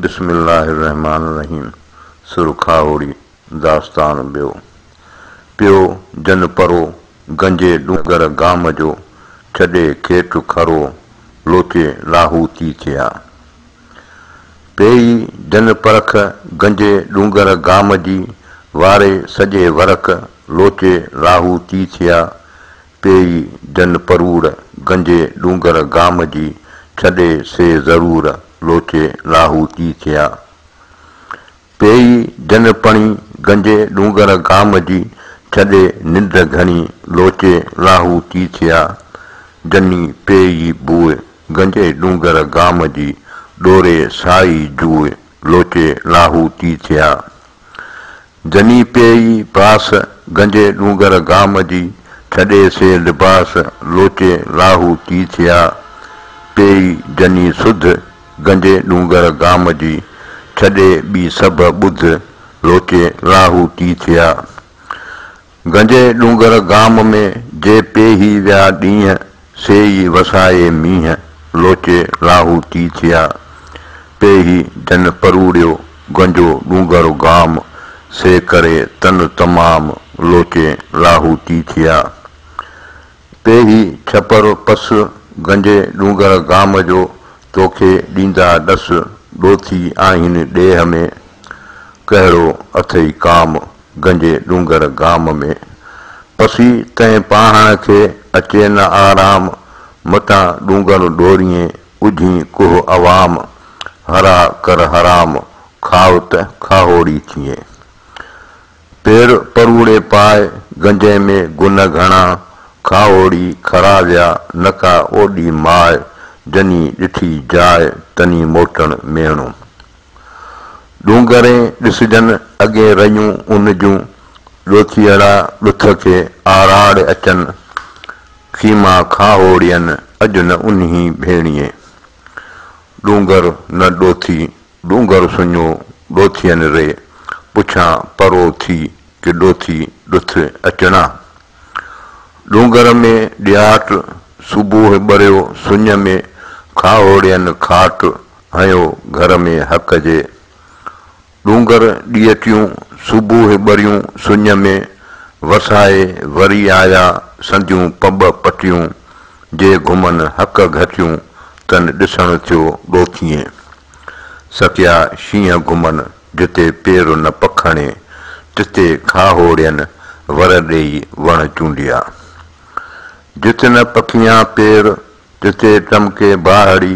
بسم الله الرحمان الرحيم سرخاهوڙي داستان ٻيو پيو جن پرو گنجي ڏونگر گام جو ڇڏي کيٽ کرو لوچي لاهوتي ٿيا پيئي جن پرک گنجي ڏونگر گام جي واري سڄي ورق لوچي لاهوتي ٿيا پيئي جن پروڙ، گنجي ڏونگر گام جي، ڇڏي سي ضرور، لوچي لاهوتي ٿيا. پيئي جن پڻي، گنجي ڏونگر گام جي، ڇڏي ننڊ گهڻي، لوچي لاهوتي ٿيا. جني پيئي بوء، گنجي ڏونگر گام جي، ڏوري سائي جوء، لوچي لاهوتي ٿيا. جني پيئي باس، گنجي ڏونگر گام جي، ڇڏي سي لباس، لوچي لاهو تي ٿيا. پيئي جني سڌ، گنجي ڏونگر گام جي، ڇڏي ٻي سڀ ٻڌ، لوچي لاهو تي ٿيا. گنجي ڏونگر گام ۾، جي پي هي ويا ڏينهن، سي ئي وسائي مينهن، لوچي لاهوتي ٿيا. پي هي جن پروڙيو، گنجو ڏونگر گام، سي ڪري تن تمام، لوچي لاهوتي ٿيا. پي هي ڇپر پس، گنجي ڏونگر گام جو، توکي ڏيندا ڏس، ڏوٿي آهين ڏيهه ۾، ڪهڙو اٿئي ڪام، گنجي ڏونگر گام ۾، پسي تنهن پاهڻ کي اچي نه آرام، متان ڏونگر ڏوريين، اجهين ڪوه عوام، هرا ڪر حرام، کاء ته کاهوڙي ٿيين. پير پروڙي پاء، گنجي ۾ گن گهڻا، کاهوڙي کرا ويا، نه ڪا اوڏي ماء، جني ڏٺي جاء، تني موٽڻ ميڻو. ڏونگرين ڏسجن اڳين رڃون ان جون، ڏوٿيئڙا ڏٿ کي آراڙ اچن، خيما کاهوڙين اڄ نه انهي ڀيڻيي. ڏونگر نه ڏوٿي، ڏونگر سڃو ڏوٿين ري، پڇان پرو ٿي ڪي ڏوٿي ڏٿ اچڻا. ڏونگر ۾ ڏياٽ صبوح ٻريو سڃ ۾ کاهوڙين کاٽ هنيو گهر ۾ حق جي ڏونگر ڏيئٽيون صبوح ٻريون سڃ ۾ وسائي وري آيا سنديون پٻ پٽيون جي گهمن حق گهٽيون تن ڏسڻ ٿيو ڳوٿيئي سڪيا شينهن گهمن جتي پير نه پکڻي تتي کاهوڙين ور ڏيئي وڻ چونڊيا جت نه پکيان پير تتي ٽمڪي باهڙي